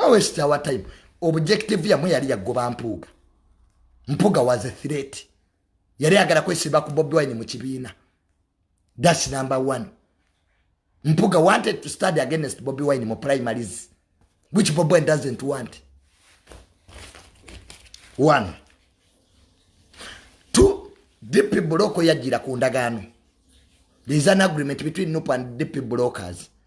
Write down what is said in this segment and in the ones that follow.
awest oh, our time objective yamwe yali yagoba mpuuga mpuga was a threat yali agala kwesiba ku bobi wine mu kibiina thats number one mpuga wanted to study against bobi wine mu primaries which bobi wine doesn't want one two dp buloko yajjira ku ndagaano there is an agreement between nup and dp brokers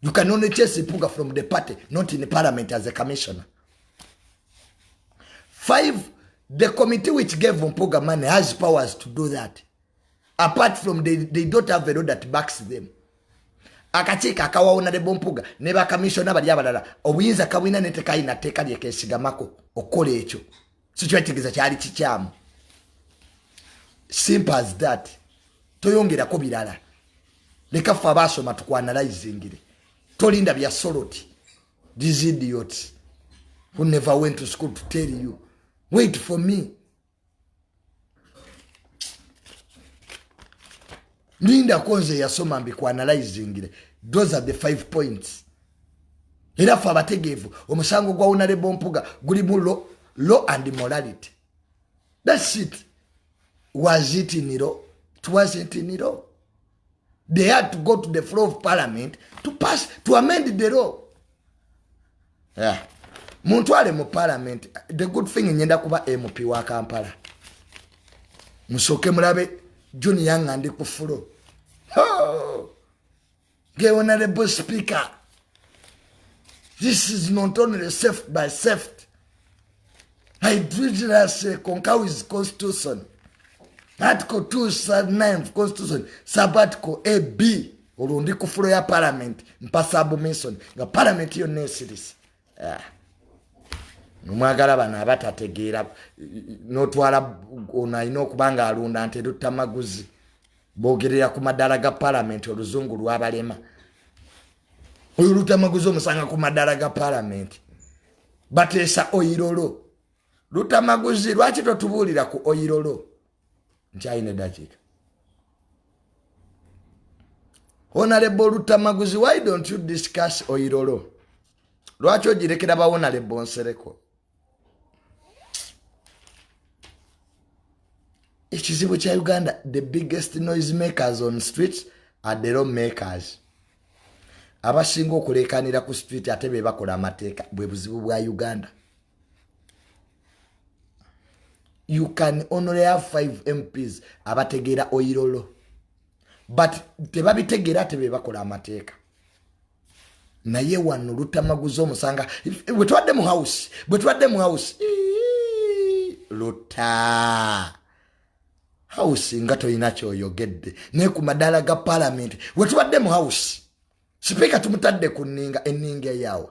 You can only chase Ipuga from the party, not in the parliament as a commissioner. Five, the committee which gave Mpuga money has powers to do that. Apart from they, they don't have a law that backs them. akakiiko akawawona ne bompuga ne bakamissiona bali abalala obuyinza kabulina netekayina tteeka lyekesigamako okukola ekyo sikyakitegeeza kyali kikyamu simple as that toyongerako birala leka ffe abaasoma tukwanalizingire tolinda bya soloti these idiots who never went to school to tell you wait for me lindako nze yasoma mbikwanalizingire those are the five points era ffe abategeevu omusango gwa wonalebo mpuga gulimu law and morality thats it was it in law it wasn't in law they had to go to the floor of parliament to pass to amend the law yeah. muntwale mu parliament the good thing nyenda kuba mp wa kampala musooke mulabe junior nga ndi ku fulo oh! Gay honorable speaker. This is not only safety by safety. I treat it as a concowis constitution. Article 2, sub 9 of constitution, sub article A, B. Ulu ndi kufuro ya parliament, mpa sabu minson. Nga parliament yo nesiris. Yeah. Numagala bana abata tegira. Notuwala unaino kubanga alunda ante duta maguzi. bogerera ku madaala ga palamenti oluzungu lwabalema oyo lutamaguzi omusanga ku madaala ga palamenti bateesa oyirolo lutamaguzi lwaki totubuulira ku oyirolo nkyalina edakiika honalebo olutamaguzi why don't you discuss oyirolo lwaki ogirekera bawonalebo nsereko ekizibu kya uganda the biggest noise makers on street are the law makers abasinga okulekanira ku street ate be bakola amateeka bwe buzibu bwa uganda you can only have five mps abategeera oyirolo but tebabitegeera ate be bakola amateeka naye wano lutamaguza omusanga bwetubadde mu house bwetubadde mu house luta house nga tolina kyoyogedde naye ku madaala ga palamenti wetubadde mu house sipiika tumutadde ku ninga eninga eyawa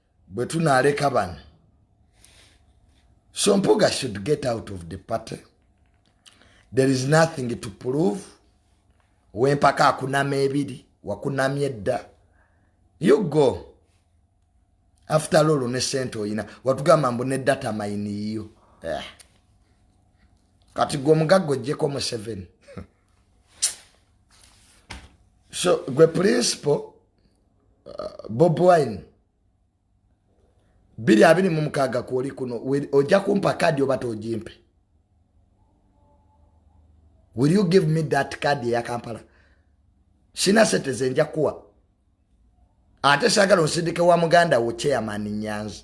bwe tunaaleka bano so mpuga should get out of the party there is nothing to prove wempaka akunama ebiri wakunamya edda you go after lolo ne sente oyina watugamba mbu ne data mayini yiyo yeah. kati gwe omugagga ojjeko museveni so gwe principal uh, bob wine biri abiri mu mukaaga kwoli kuno ojja kumpa kadi oba togimpe will you give me that kadi eya kampala sina sente zenja kuwa ate sagala osindike wa muganda wo chairman nyanzi